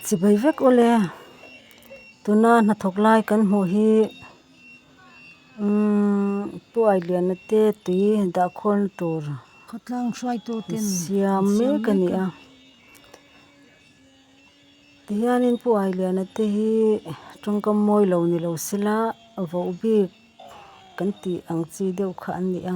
Chibai vek awl e, tuna hnathawk lai kan hmuh hi Pu Ailiana te tui dah khawl tur siam mek a ni a. Tihian in Pu Ailiana te hi tangka mawi lo ni lo sela, voh bik kan tih ang chi deuh kha an ni a.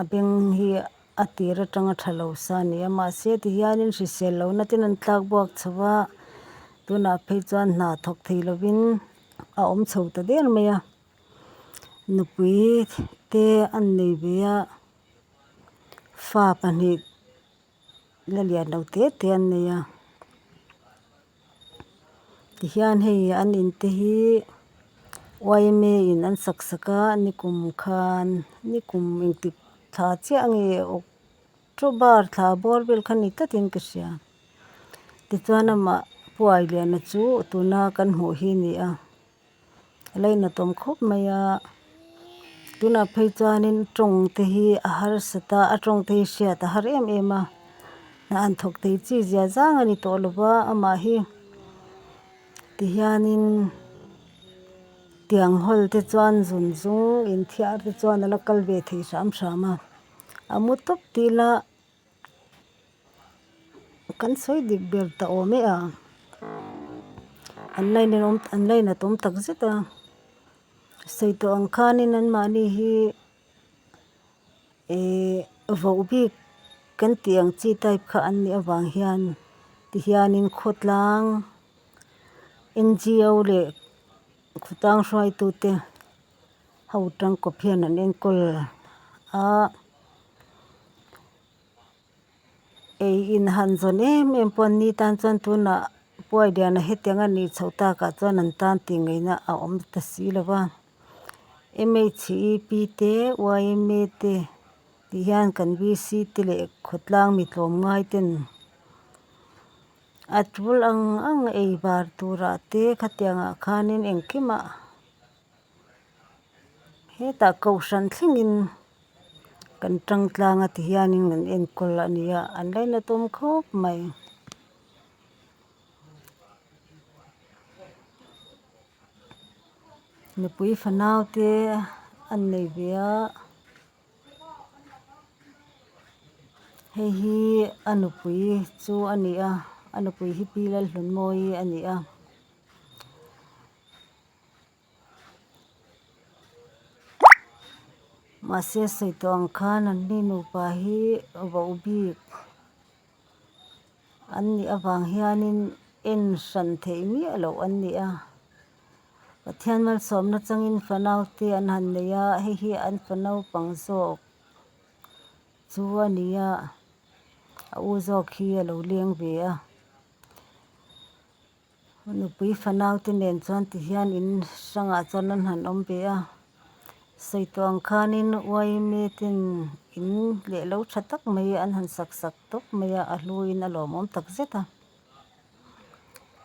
A beng hi a tir atanga tha lo sa a ni a, mahse tihianin hrisel lo natin an tlak buak chho a, tunah phei chuan hna thawk thei lovin a awm chho ta der mai a, nupui te an nei ve a, fa pahnih la lian lo te te an nei a, tihian hei an in te hi oime in an sak sak a nikum khan nikum in tih thla chiah nge october thla bawr vel khan ni tlat in ka hria, tichuan amah puai lian a chu tuna kan hmuh hi a ni a. Laina tawm khawp mai a, tunah phei chuanin tawng te hi a harsat a, a tawng te hi a hriat a har em em a, hnah an thawk thei chi zia zang a ni tawh lo va, amah hi tihianin tiang hawl te chuan zun zung inthiar te chuan a la kal ve thei hram hram a, a mu tawp tih ila Kan sawi dik ber ta awm e a, an line in awm an line at awm tak zet a, sawi tawh ang khanin an mahni hi ihh voh bik kan tih ang chi type kha an nih avang hian ti hianin khawtlang NGO leh khawtang hruaitute. Ho tangkawp hian an enkawl a, ei in han zawn em em pawh ni tan chuan tunah puaidiana hetiang a nih chhoh takah chuan an tan tih ngaihna a awm ta si lo va, MHEP te yma te tih hian kan VC te leh khawtlang mi tlawm ngai ten a tul ang ang ei var turah te khatiangah khanin engkimah-- Hetah kohhran thlengin kan ṭang tlâng a ti hianin kan enkawl a ni a, an line a tâwm khâwp mai. Mipui fanaute an nei ve a, hei hi a nupui chu a ni a, a nupui hi Pilalhlunmawi a ni a. Mahse saitawng khan an hnu nupa hi vauh bik an nih avang hianin en hran theih miah loh an ni a. Pathian malsawmna changin fanaute an han nei a, hei hi an fa naupang zawk chu a ni a, a u zawk hi a lo leng ve a. Nupui fanaute nen chuan ti hian in hrangah chuan an han awm ve a, sawittawng khanin uaimetin in lehlo tha tak mai an han sak sak tawp mai a, a hluin a lawmawm tak zet a,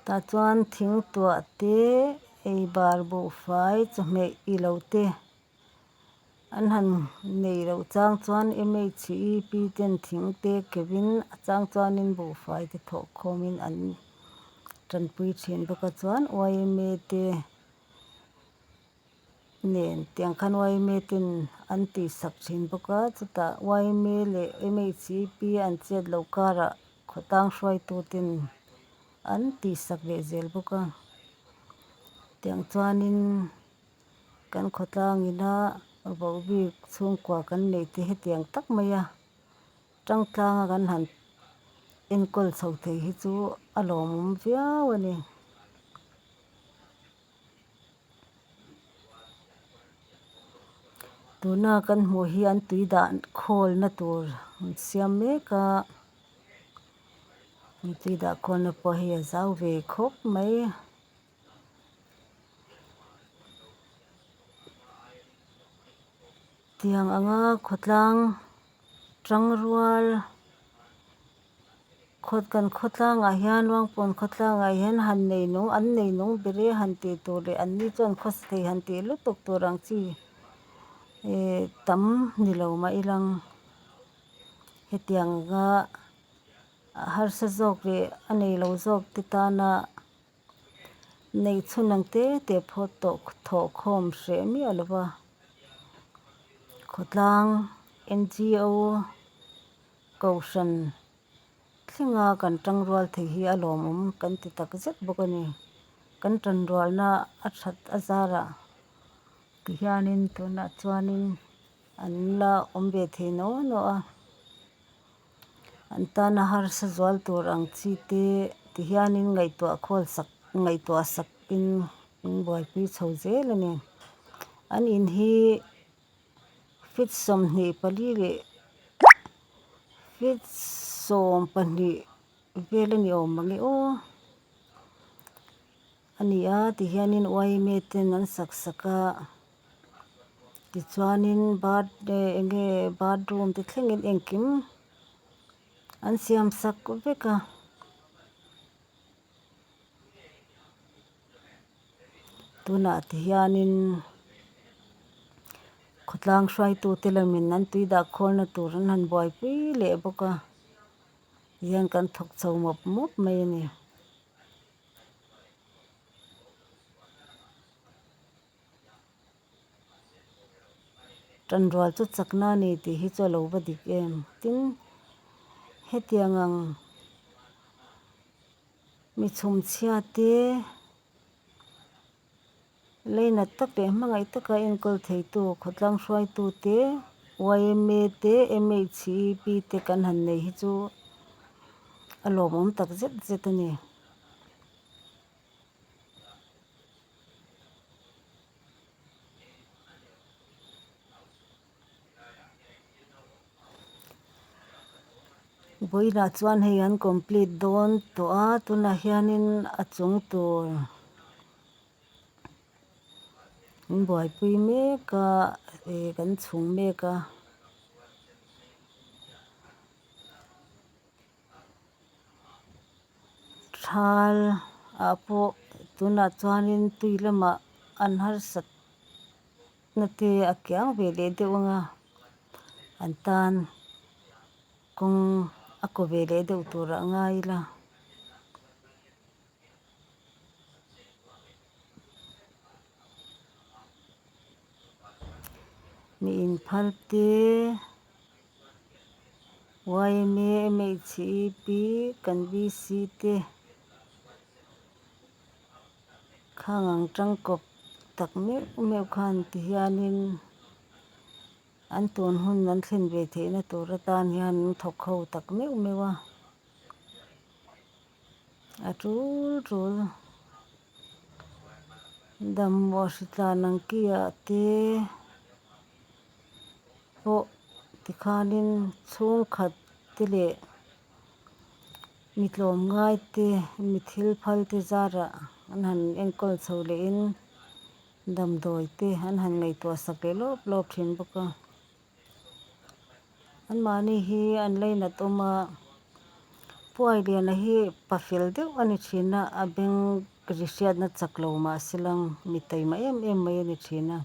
tah chuan thingtuahte, eibar buhfai, chawhmeh ilo te. An han nei loh chang chuan MHEP ten thing te kevin a chang chuanin buhfai te thawh khawmin an tanpui thin bawk a chuan yma te nen tiang khan yma ten an tisak thin bawk a chutah yma leh MHEP an chet loh karah khawtang hruaitu ten an tihsak leh zel bawk a tiang chuanin-- Kan khawtlang ina voh bik chhungkua kan neih tih hetiang tak mai a, tangtlanga kan han enkawl chho thei hi chu a lawmawm viau a ni. Tuna kan hmuh hi an tui dah khawlna tur an siam mek a, an tui dah khawlna pawh hi a zau ve khawp mai. Tiang anga khawtlang tang rual khaw kan khawtlangah hian ruangpawn khawtlangah hian han neinawng an neinawng ber e han tih tur leh an ni chuan khaw sathei han tih lutuk tur ang chi ihh tam ni lo mah i lang hetianga harsat zawk leh a neilo zawk te tana. Nei chhun ang te te phaw tawh thawh khawm hreh miah lo va. Khawtlang NGO Kohhran thlenga kan tang rual thei hi a lawmawm kan ti tak zet bawk a ni. Kan tanrualna a that a zarah ti hianin tunah chuanin an la awm ve thei no no a. An tana harsa zual tur ang chi te ti hianin ngaihtuah khawl sak ngaihtuah sakin an buaipui chho zel a ni. An in hi feet sawmhnih pali leh feet sawm pahnih vel a ni awm ang e aw. A ni a ti hianin uaime ten an sak sak a, tichuanin birthday enge bathroom te thlengin engkim an siam sak vek a. Tunah ti hianin khawtlang hruaitu te la min an tui dah khawnna tur an han buaipui leh bawk a, tihian kan thawk chho mawp mawp mai a ni. Tanrual chu chakna a ni tih hi chu a lo va dik em. Tin, hetiang ang mi chhumchhia te. Lainat tak leh hmangaih taka enkawl theitu, khawtlang hruaitu te, yma te, MHEP te kan han nei hi chu a lawmawm tak zet zet a ni. Boina chuan hei an complete dawn tawh a, tunah hianin a chung tur in buaipui mek a, ih kan chhung mek a. Thal ah pawh tunah chuanin tui lamah an harsat. Nute a kiang ve leh deuh anga an tan kawng a kaw ve leh deuh turah a ngai ila mi inphal te yma mhc ep kan bc te. Khang ang tangkawp tak meuh meuh khan ti hianin an tun hun an thlen ve theihna tur atan hian an thawk ho tak meuh meuh a, a tul tul Damua hritlan ang kiah te pawh tikhanin chhungkhat te leh. Mi tlawm ngai te, mi thil phal te zarah an han enkawl chho leh in damdawi te an han ngaihtuah sak leh lawp lawp thin bawk a. An mahni hi an lei nat awm a, Pu Ailiana hi pa fel deuh a ni thin a, a beng ri hriat na chak lo mah se lang mi taima em em mai a ni thin a.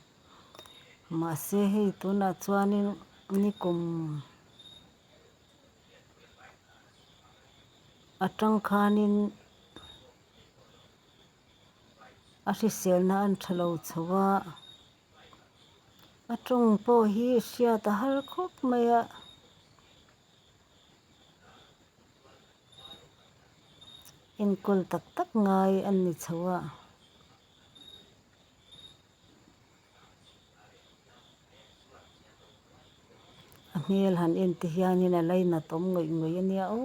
Mahse hei tunah chuan in ni kum. A tangkhanin a hriselna an tha lo chho a, a tawng pawh hi a hriat a har khawp mai a. Enkawl tak tak ngai an ni chho a. A hmel han en te hianin a line a tawm ngawih ngawih a nia aw.